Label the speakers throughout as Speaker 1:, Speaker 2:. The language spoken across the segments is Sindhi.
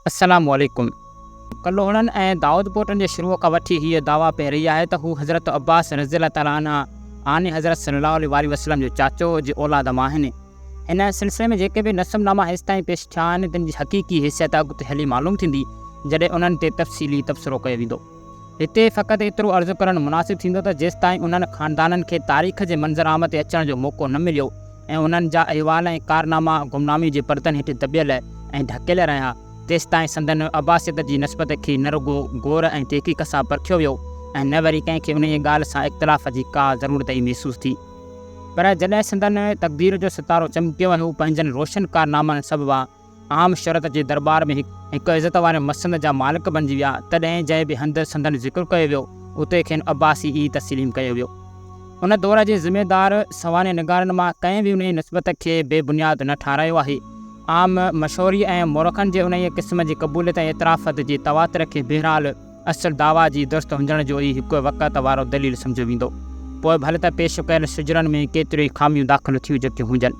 Speaker 1: السلام عليڪم. ڪلهوڙن ۽ دائودپوٽن جي شروع کان وٺي هيء دعويٰ پئي رهي آهي ته هو حضرت عباس رضي الله تعالٰي عنه آني حضرت صلّي اللّٰه عليه واٰله وسلّم جي چاچو جي اولاد مان آهن. هن سلسلي ۾ جيڪي به نسب ناما هيستائين پيش ٿيا آهن، تن جي حقيقي حيثيت اڳتي هلي معلوم ٿيندي، جڏهن انهن تي تفصيلي تبصرو ڪيو ويندو. هتي فقط ايترو عرض ڪرڻ مناسب ٿيندو ته جيستائين انهن خاندانن کي تاريخ جي منظرعام تي اچڻ جو موقعو نه مليو ۽ انهن جا احوال ۽ ڪارناما گمنامي جي پردن هيٺ دٻيل ۽ ڍڪيل رهيا تيستائين سندن عباسيت جي نسبت کي نه رڳو غور ۽ تحقيق سان پرکيو ويو ۽ نه وري ڪنهن کي انهيء ڳالهه سان اختلاف جي ڪا ضرورت ئي محسوس ٿي. پر جڏهن سندن تقدير جو ستارو چمڪيو ۽ هو پنهنجن روشن ڪارنامن سببان عام شرط جي درٻار ۾ هڪ عزت واري مسند جا مالڪ بڻجي ويا، تڏهن جنهن به هنڌ سندن ذڪر ڪيو ويو، اتي کين عباسي ئي تسليم ڪيو ويو. ان دور جي ذميدار سوانح نگارن مان ڪنهن به انهيء نسبت کي بي بنياد نه ٺهرايو آهي. عام مشهوريء ۽ مورخن جي انهيء قسم جي قبوليت ۽ اعترافت جي تواتر کي بهرحال، اصل دعويٰ جي درست هجڻ جو ئي هڪ وقعت وارو دليل سمجهيو ويندو. پوء ڀل ته پيش ڪيل شجرن ۾ ڪيتريون ئي خاميون داخل ٿيون جيڪيون هجن.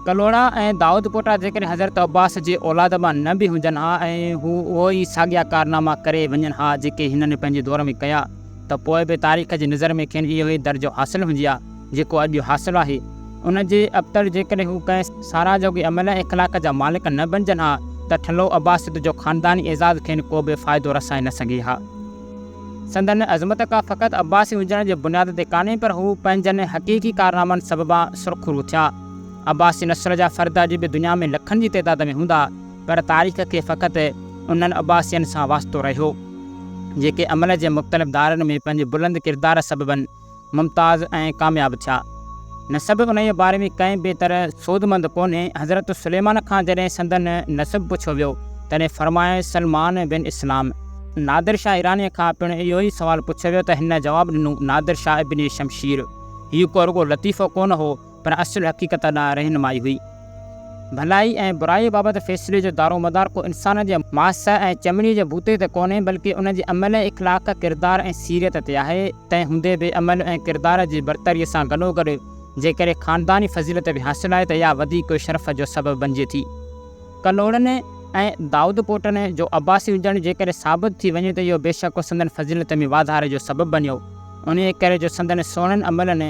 Speaker 1: ڪلهوڙا ۽ دائود پوٽا جيڪڏهن حضرت عباس جي اولاد مان نه به هجن ها ۽ هو اهو ئي ساڳيا ڪارناما ڪري وڃن ها جيڪي هنن پنهنجي دور ۾ ڪيا، ته پوء به تاريخ جي نظر ۾ کين اهو ئي درجو حاصل هجي ها، جيڪو اڄ حاصل آهي. ان جي ابتڙ جيڪڏهن هو ڪنهن ساراهه جوڳي عمل ۽ اخلاق جا مالڪ نه بنجن ها ته ٺلهو عباسيت جو خانداني اعزاز کين ڪو به فائدو رسائي نه سگهي ها. سندن عظمت ڪا فقط عباسي هجڻ جي بنياد تي ڪانهي پر هو پنهنجن حقيقي ڪارنامن سببان سرخرو ٿيا. عباسي نسل جا فرد اڄ به دنيا ۾ لکن جي تعداد ۾ هوندا. پر تاريخ کي فقط انهن عباسين سان واسطو رهيو، جيڪي عمل جي مختلف دائرن ۾ پنهنجي بلند ڪردار سببن ممتاز ۽ ڪامياب ٿيا. نسب انهيء باري ۾ ڪنهن به طرح سودمند ڪونهي. حضرت سليمان کان جڏهن سندن نسب پڇيو ويو، تڏهن فرمايائين، سلمان بن اسلام. نادر شاهه ايرانيء کان پڻ اهو ئي سوال پڇيو ويو ته هن جواب ڏنو، نادر شاهه ابن شمشير. هيء ڪو رڳو لطيفو ڪونه هو، پر اصل حقيقت ڏانهن رهنمائي هئي. ڀلائي ۽ برائي بابت فيصلي جو دارومدار ڪو انسان جي ماس ۽ چمڙي جي بوتي تي ڪونهي، بلڪه ان جي عمل ۽ اخلاق، ڪردار ۽ سيرت تي آهي. تنهن هوندي به عمل ۽ ڪردار جي برتريء سان گڏوگڏ جيڪڏهن خانداني فضيلت به حاصل آهي ته اها وڌيڪ شرف جو سبب بنجي ٿي. ڪلهوڙن ۽ دائودپوٽن جو عباسي هجڻ جيڪڏهن ثابت ٿي وڃي ته اهو بيشڪ سندن فضيلت ۾ واڌاري جو سبب بنيو، انهيء ڪري جو سندن سهڻن عملن،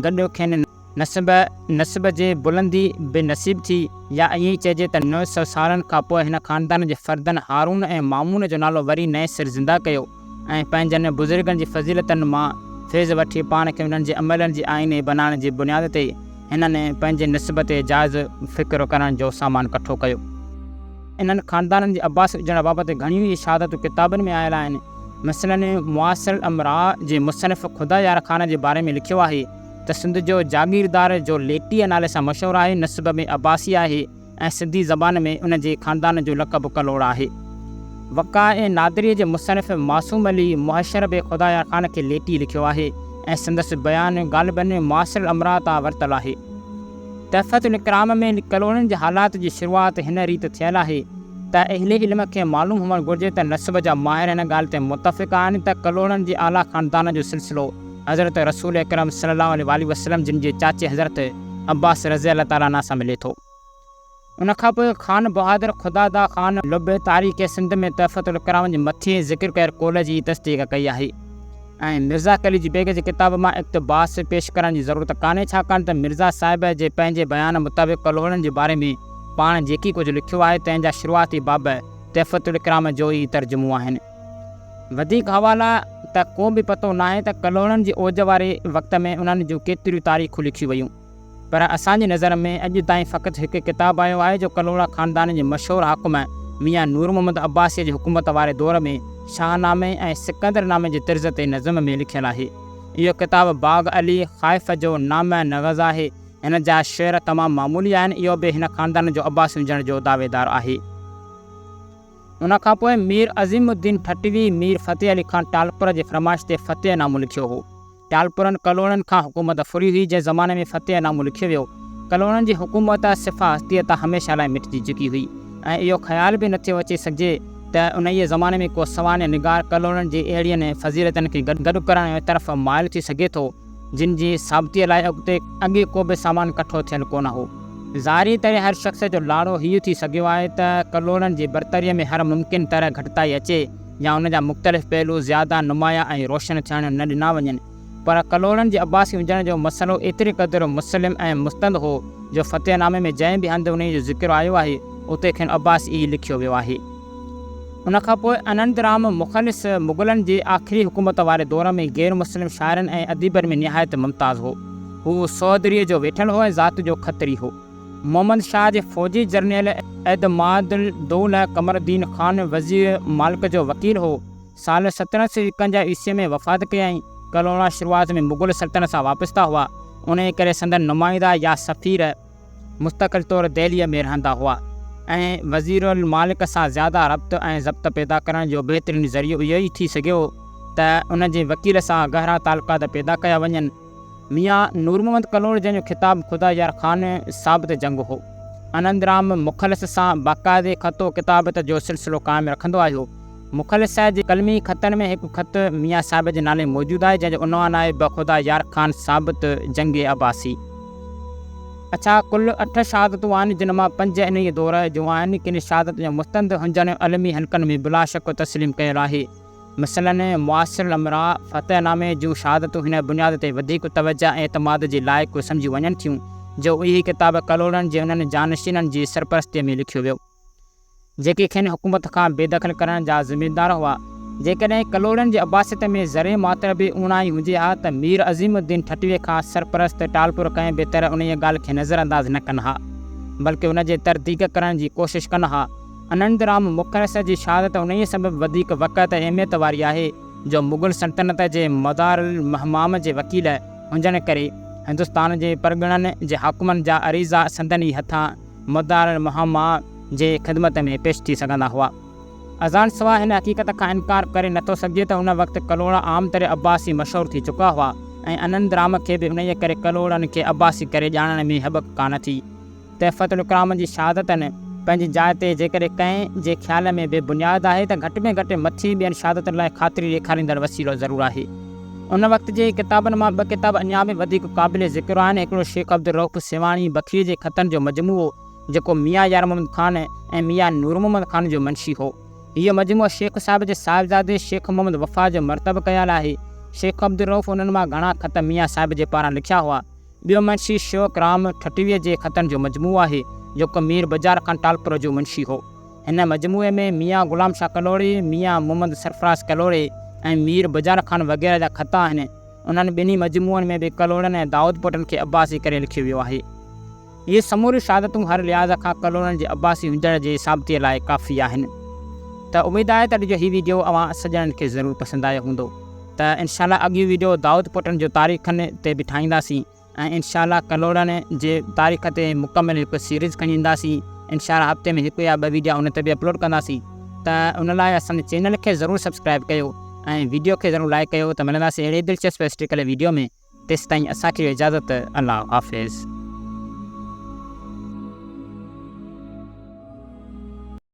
Speaker 1: گڏ کين نسب نسب جي بلندي به نصيب ٿي يا ائين ئي چئجي ته نو سؤ سالن کان پوء هن خاندان جي فردن هارون ۽ مامون جو نالو وري نئين سر زنده ڪيو ۽ پنهنجن بزرگن جي فضيلتن مان فيض وٺي پاڻ کي انهن جي عملن جي آئيني بنائڻ جي بنياد تي هنن پنهنجي نسب تي جائزو فڪر ڪرڻ جو سامان ڪٺو ڪيو. انهن خاندانن جي عباسي هجڻ بابت گهڻيون ئي شهادتون ڪتابن ۾ آيل آهن. مثلاً معاصر الامراء جي مصنف خدا يار خان جي باري ۾ لکيو آهي ته سنڌ جو جاگيردار جو ليٽيء نالي سان مشهور آهي، نسب ۾ عباسي آهي ۽ سنڌي زبان ۾ ان جي خاندان جو لقب ڪلهوڙ آهي. وقائع نادريء جي مصنف معصوم علي مهشر به خدا يار خان کي ليٽي لکيو آهي ۽ سندس بيان غالباً معاصر الامراء تان ورتل آهي. تحفة الاڪرام ۾ ڪلونين جي حالات جي شروعات هن ريت ٿيل آهي ته اهل علم کي معلوم هئڻ گهرجي ته نسب جا ماهر هن ڳالهه تي متفق آهن ته ڪلونين جي اعليٰ خاندانن جو سلسلو حضرت رسول اڪرم صلّي اللّٰه عليه واٰله وسلّم جن جي چاچي حضرت عبّاس رضي اللّٰه تعالٰي عنه سان ملي ٿو. ان کان پوء خان بهادر خدادا خان لبي تاريخ سنڌ ۾ تحفته الڪرامن جي مٿين ذڪر ڪيل قول جي تصديق ڪئي آهي ۽ مرزا قليچ بيگ جي ڪتاب مان اقتباس پيش ڪرڻ جي ضرورت ڪانهي ڇاڪاڻ ته مرزا صاحب جي پنهنجي بيان مطابق ڪلهوڙن جي باري ۾ پاڻ جيڪي ڪجهه لکيو آهي تنهن جا شروعاتي باب تحفته الڪرام جو ئي ترجمو آهن وڌيڪ حوالا ته ڪو به پتو ناهي ته ڪلهوڙن جي اوج واري وقت ۾ انهن جون ڪيتريون تاريخون لکيون ويون. پر اسان جي نظر ۾ اڄ تائين فقط هڪ ڪتاب آيو آهي جو ڪلهوڙا خاندان جي مشهور حاڪم ميان نور محمد عباسيء جي حڪومت واري دور ۾ شاهنامي ۽ سڪندر نامي جي طرز تي نظم ۾ لکيل آهي. اهو ڪتاب باغ علي خائف جو نامه نغز آهي. هن جا شعر تمام معمولي آهن. اهو به هن خاندان جو عباسي هجڻ جو دعويدار آهي. ان کان پوء مير عظيم الدين ٺٽوي مير فتح علي خان ٽالپر جي فرمائش تي فتح نامو لکيو هو. ٽالپرن ڪلهوڙن کان حڪومت ڦري هئي جنهن زماني ۾ فتح نامو لکيو ويو. ڪلهوڙن جي حڪومت صفا هستيء تان هميشه لاء مٽجي چڪي هئي ۽ اهو خيال به نه ٿيو اچي سگهجي ته انهيء زماني ۾ ڪو سوانح نگار ڪلهوڙن جي اهڙين فضيلتن کي گڏ ڪرڻ طرف مائل ٿي سگهي ٿو جن جي ثابتيء لاء اڳتي اڳي ڪو به سامان ڪٺو ٿيل ڪونه هو. ظاهري طرح هر شخص جو لاڙو هيء ٿي سگهيو آهي ته ڪلهوڙن جي برتريء ۾ هر ممڪن طرح گهٽتائي اچي. يا ان جا مختلف پهلو زياده نمايان ۽ روشن ٿيڻ نه ڏنا وڃن، پر ڪلهوڙن جي عباسي هجڻ جو مسئلو ايتري قدر مسلم ۽ مستند هو، جو فتح نامي ۾ جنهن به هنڌ انهيء جو ذڪر آيو آهي، اتي کين عباسي ئي لکيو ويو آهي. ان کان پوء انند رام مخلص مغلن جي آخري حڪومت واري دور ۾ غير مسلم شاعرن ۽ اديبن ۾ نهايت ممتاز هو. هو سعودريء جو ويٺل هو ۽ ذات جو کتري هو. محمد شاهه جي فوجي جرنيل اعتماد الدوله قمر الدين خان وزير مالڪ جو وڪيل هو. سال سترهن سؤ ايڪونجاهه عيسويء ۾ وفات ڪيائين. ڪلهوڙا شروعات ۾ مغل سلطنت سان وابسته هئا، انهيء ڪري سندن نمائندا يا سفير مستقل طور دهليء ۾ رهندا هئا ۽ وزير المالڪ سان زياده ربط ۽ ضبط پيدا ڪرڻ جو بهترين ذريعو اهو ئي ٿي سگهيو ته ان جي وڪيل سان گهرا تعلقات پيدا ڪيا وڃن. ميان نور محمد ڪلهوڙو جنهن جو خطاب خدا يار خان ثابت جنگ هو. آنند رام مخلص سان باقاعدي خط و ڪتابت جو سلسلو قائم رکندو آيو. مخلص صاحب جي قلمي خطن ۾ هڪ خط ميان صاحب جي نالي موجود آهي جنهن جو عنوان آهي به خدا يار خان ثابت جنگ عباسي. اڇا ڪل اٺ شهادتون آهن جن مان پنج انهيء دور جون آهن. ڪن شهادتن جو مستند هنجڻ علمي حلقن ۾ بلاشڪ تسليم ڪيل آهي. مثلاً، معاصر الامراء فتح نامي جون شهادتون هن بنياد تي وڌيڪ توجهه ۽ اعتماد جي لائق سمجهيون وڃن ٿيون، جو اهي ڪتاب ڪلهوڙن جي انهن جانشينن جي سرپرستيء ۾ لکيو ويو، جيڪي کين حڪومت کان بي دخل ڪرڻ جا ذميدار هئا. جيڪڏهن ڪلهوڙن جي عباسيت ۾ ذري ماتر به اوڻاهي هجي ها ته مير عظيم الدين ٺٽويء کان سرپرست ٽالپر ڪنهن به طرح انهيء ڳالهه کي نظرانداز نه ڪن ها، بلڪ ان جي ترديق ڪرڻ جي ڪوشش ڪن ها. انندرام مکرس جي شهادت انهيء سبب وڌيڪ وقعت ۽ اهميت واري آهي جو مغل سلطنت جي مدار الهمام جي وڪيل هجڻ ڪري هندستان جي پرڳڻن جي حاڪمن جا عريضا سندن ئي هٿان مدار الهمام جي خدمت ۾ پيش ٿي سگهندا هئا. ازان سواء هن حقيقت کان انڪار ڪري نٿو سگهجي ته ان وقت ڪلهوڙا عام طرح عباسي مشهور ٿي چڪا هئا ۽ انندرام کي به انهيء ڪري ڪلهوڙن کي عباسي ڪري ڄاڻڻ ۾ هٻڪ ڪانه ٿي. تحفة الڪرامن جي شهادتن پنهنجي جاء تي جيڪڏهن ڪنهن جي خيال ۾ بي بنياد آهي ته گهٽ ۾ گهٽ مٿي ٻين شهادتن لاء خاطري ڏيکاريندڙ وسيلو ضرور آهي. ان وقت جي ڪتابن مان ٻه ڪتاب اڃا به وڌيڪ قابل ذڪر آهن، هڪڙو شيخ عبدالرئوف سيوهاڻي بکري جي خطن جو مجموعو جيڪو ميان يار محمد خان ۽ ميان نور محمد خان جو منشي هو. هيء مجموعو شيخ صاحب جي صاحبزادي شيخ محمد وفا جو مرتب ڪيال آهي. شيخ عبدالرئوف انهن مان گهڻا خط ميان صاحب جي پاران لکيا هئا. ٻيو منشي شوق رام ٺٽويء جي خطن جو مجموعو آهي، جيڪو مير بجار خان ٽالپر جو منشي هو. هن مجموعي ۾ ميان غلام شاهه ڪلهوڙي، ميان محمد سرفراز ڪلهوڙي ۽ مير بجار خان وغيره جا خط آهن. انهن ٻنهي مجموعن ۾ به ڪلهوڙن ۽ دائودپوٽن کي عباسي ڪري لکيو ويو آهي. اهي سموريون شهادتون هر لحاظ کان ڪلهوڙن جي عباسي هجڻ جي ثابتيء لاء ڪافي آهن. ته اميد آهي ته اڄ جو هي ويڊيو اوهان سڄڻن کي ضرور پسند آيو هوندو. ته انشاء الله اڳيون ويڊيو دائود پوٽن جو تاريخن تي به ٺاهينداسين ۽ انشاء الله ڪلهوڙن جي تاريخ تي مڪمل هڪ سيريز کڻي اينداسين انشاء الله هفتي ۾ هڪ يا ٻه ويڊيا ان تي به اپلوڊ ڪنداسين ته ان لاء اسان جي چينل کي ضرور سبسڪرائب ڪيو ۽ ويڊيو کي ضرور لائيڪ ڪيو ته ملنداسين اهڙي دلچسپ هسٽريڪل ويڊيو ۾ تيستائين اسان کي ڏيو اجازت الله حافظ.